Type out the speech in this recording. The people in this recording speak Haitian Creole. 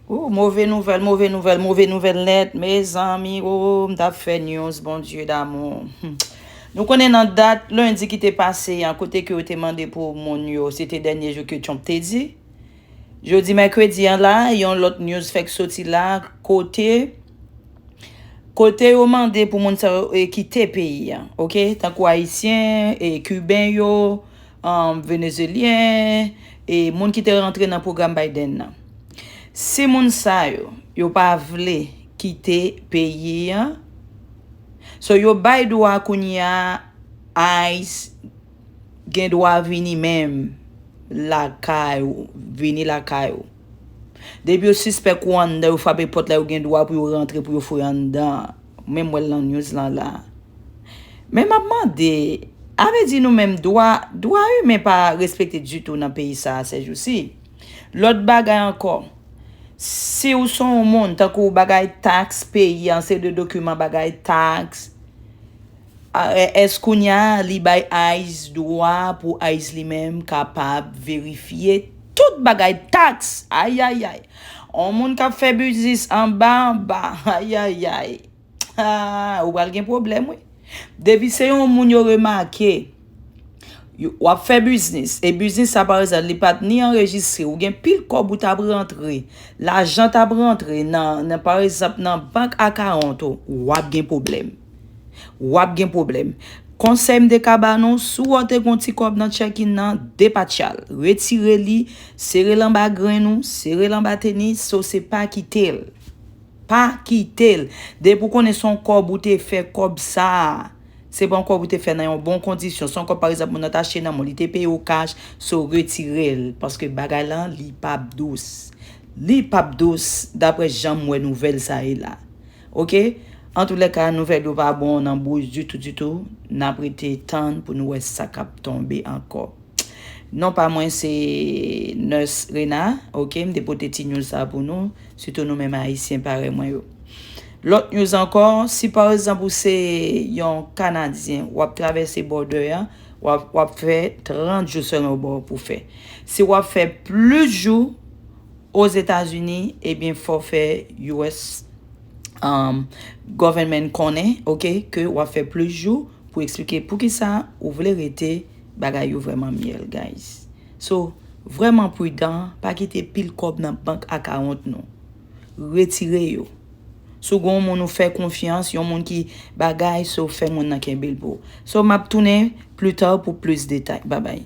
Ooh move nouvèl move nouvèl move nouvèl nèt mezanmi ooh m tap fè news Bondye damou humm nou konnen nan dat lendi ki te pase an kote ke yo te mande pou moun yo se te dènye jou ke Trump te di jodi mèkredi an la yon lòt news fèk soti la kote Kote yo mande pou moun sa yo e kite peyi an, ok? Tankou ayisyen e kiben yo. Venezyelyen e moun ki te rantre nan pwogram Biden nan. Si moun sa yo, yo pa vle kite peyi an, so yo bay dwa kounye a ice gen dwa vini menm lakay ou, vini lakay ou. Depi yo sispèk ou anndan yo frape pòt la yo gen dwa pou yo rantre pou yo foure anndan an. Ou menm wèl nan news lan la. Men map mande, avè di nou menm dwa, dwa imen pa respekte ditou nan peyi sa a sèjousi. Lòt bagay ankò, si ou son ou moun tankou bagay tax peyi an, se de dokiman bagay tax. IRS kounya li bay ice dwa pou ice li menm kapab verifye tout bagay tax ayayay on moun kap fè biznis anba anba ayayay aah ou pral gen pwoblèm wi depi se yon moun yo remake wap fè biznis e biznis sa pa egzanp li pat ni anrejistre ou gen pil kòb ou tap rantre lajan tap rantre nan pa egzanp nan bank akawont ou wap gen pwoblèm. wap gen pwoblèm. Konsèy m te ka ba nou, si w wè w te gen yon ti kòb nan checkin nan, depatcha l. Retire li, sere l anba grenn ou, sere l anba tenis ou, se pa kite l. Pa kite l. Depi ou konnen se yon kòb ou te fè, kòb sa a, se pa yon kòb ou te fè nan yon bon kondisyon, se yon kòb pa egzanp moun nan te achte nan mall, li te peye ou kach, so retire l. Paske bagay la, li pap dous. Li pap dous, daprè jan m wè nouvèl sa ye la. Ok antoulèka nouvèl yo pa bon nan bouch ditou ditou nap rete tann pou nou wè sa kap tonbe ankò non pa mwen se Nurse Rena ok m te pote ti news sa pou nou sitou nou menm ayisyen parèy mwen yo lòt news ankò si pa ekzanp ou se yon kanadyen wap travèse bòdè a wap fè 30 jou sèlman ou gen pou fè si wap fè plis jou Ozetazini ebyen fòw fè us government konnen ok ke wap fè plis jou pou eksplike poukisa ou vle rete bagay yo vrèman myèl guys so vrèman pridan pa kite pil kòb nan bank akawont nou retire yo si w gen yon moun ou fè konfyans yon moun ki bagay so fè moun nan kenbe l pou w so map tounen plita pou plis detay babay.